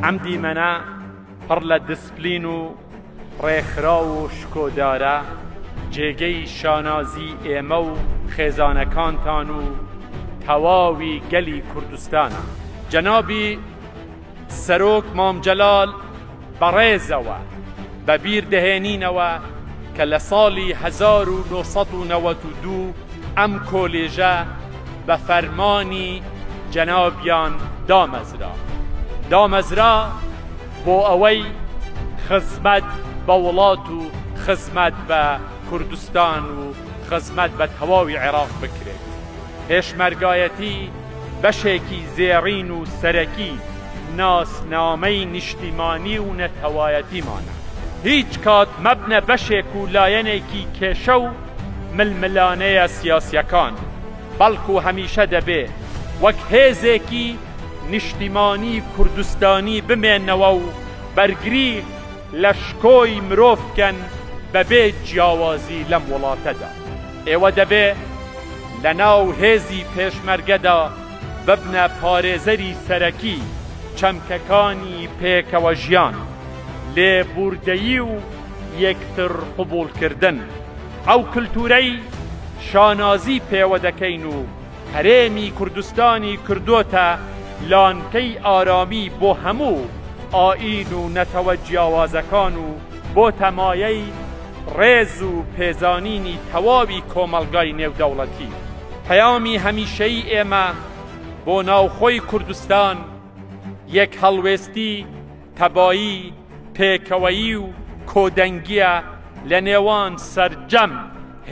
ئەم دیمەنە پڕ لە دسپلین و ڕێکخراو و شکۆدارە جێگەی شانازی ئێمە و خێزانەکانتان و تەواوی گەلی کوردستانە جەنابی سەرۆک مام جەلال بە ڕێزەوە بە بیر دەهێنینەوە کە لە ساڵی هەزار و نۆ سەد و نەوەد و دوو ئەم کۆلێژە بە فەرمانی جەنابیان دامەزرا دامەزرا بۆ ئەوەی خزمەت بە وڵات و خزمەت بە کوردستان و خزمەت بە تەواوی عێراق بکرێت. پێشمەرگایەتی بەشێکی زێڕین و سەرەکی ناسنامەی نیشتیمانی و نەتەوایەتیمانە، هیچ کات مەبنە بەشێک و لایەنێکی کێشە و ململانێیە سیاسیەکان، بەڵکو هەمیشە دەبێ وەک هێزێکی نیشتیمانی کوردستانی بمێنەوە و بەرگری لە شکۆی مرۆڤ بکەن بەبێ جیاوازی لەم وڵاتەدا. ئێوە دەبێ لە ناو هێزی پێشمەرگەدا ببنە پارێزەری سەرەکی چەمکەکانی پێکەوەژیان، لێبووردەیی و یەکتر قبووڵکردن. ئەو کلتوورەی شانازی پێوە دەکەین و هەرێمی کوردستانی کردۆتە لانکەی ئارامی بۆ هەموو ئایین و نەتەوە جیاوازەکان و بۆتە مایەی ڕێز و پێزانینی تەواوی کۆمەڵگای نێودەوڵەتی. پەیامی هەمیشەیی ئێمە بۆ ناوخۆی کوردستان یەک هەڵوێستی، تەبایی، پێکەوەیی و کۆدەنگییە لە نێوان سەرجەم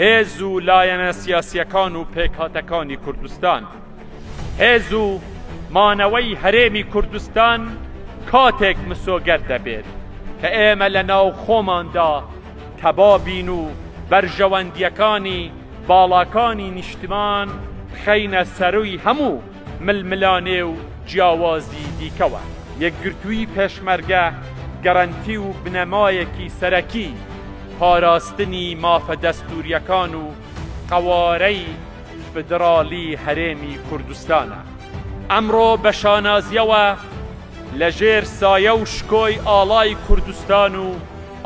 هێز و لایەنە سیاسییەکان و پێکهاتەکانی کوردستان. هێز و مانەوەی هەرێمی کوردستان کاتێک مسۆگەر دەبێت کە ئێمە لە ناو خۆماندا تەبا بین و بەرژەوەندییەکانی باڵاکانی نیشتمان بخەینە سەرووی هەموو ململانێ و جیاوازی دیکەوە. یەکگرتووی پێشمەرگە گەرەنتی و بنەمایەکی سەرەکی پاراستنی مافە دەستوورییەکان و قەوارەی فیدراڵی هەرێمی کوردستانە. ئەمڕۆ بە شانازییەوە لە ژێر سایە و شکۆی ئاڵای کوردستان و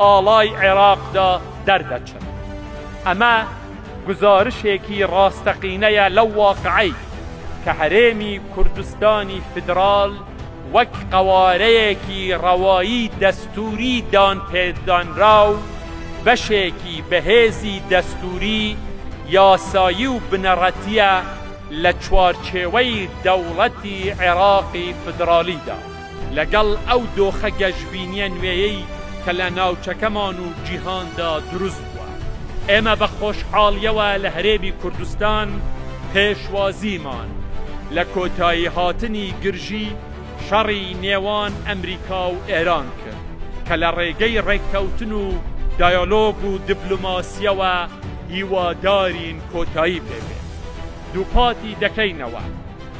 ئاڵای عێراقدا دەردەچێت. ئەمە گوزارشێکی ڕاستەقینەیە لەو واقعەی کە هەرێمی کوردستانی فیدراڵ وەک قەوارەیەکی ڕەوایی دەستووری دانپێدانراو بەشێکی بەهێزی دەستووری، یاسایی و بنەڕەتییە لە چوارچێوەی دەوڵەتی عێراقی فیدراڵیدا. لەگەڵ ئەو دۆخە گەشبینییە نوێیەی کە لە ناوچەکەمان و جیهاندا دروست بووە، ئێمە بە خۆشحاڵییەوە لە هەرێمی کوردستان پێشوازیمان لە کۆتاییهاتنی گرژی شەڕی نێوان ئەمریکا و ئێران کرد کە لە ڕێگەی ڕێککەوتن و دایەلۆگ و دبلۆماسییەوە هیوادارین کۆتایی پێبێت. دووپاتی دەکەینەوە،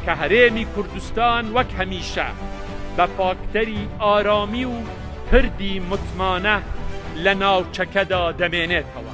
کە هەرێمی کوردستان وەک هەمیشە بە فاکتەری ئارامی و پردی متمانە لە ناوچەکەدا دەمێنێتەوە.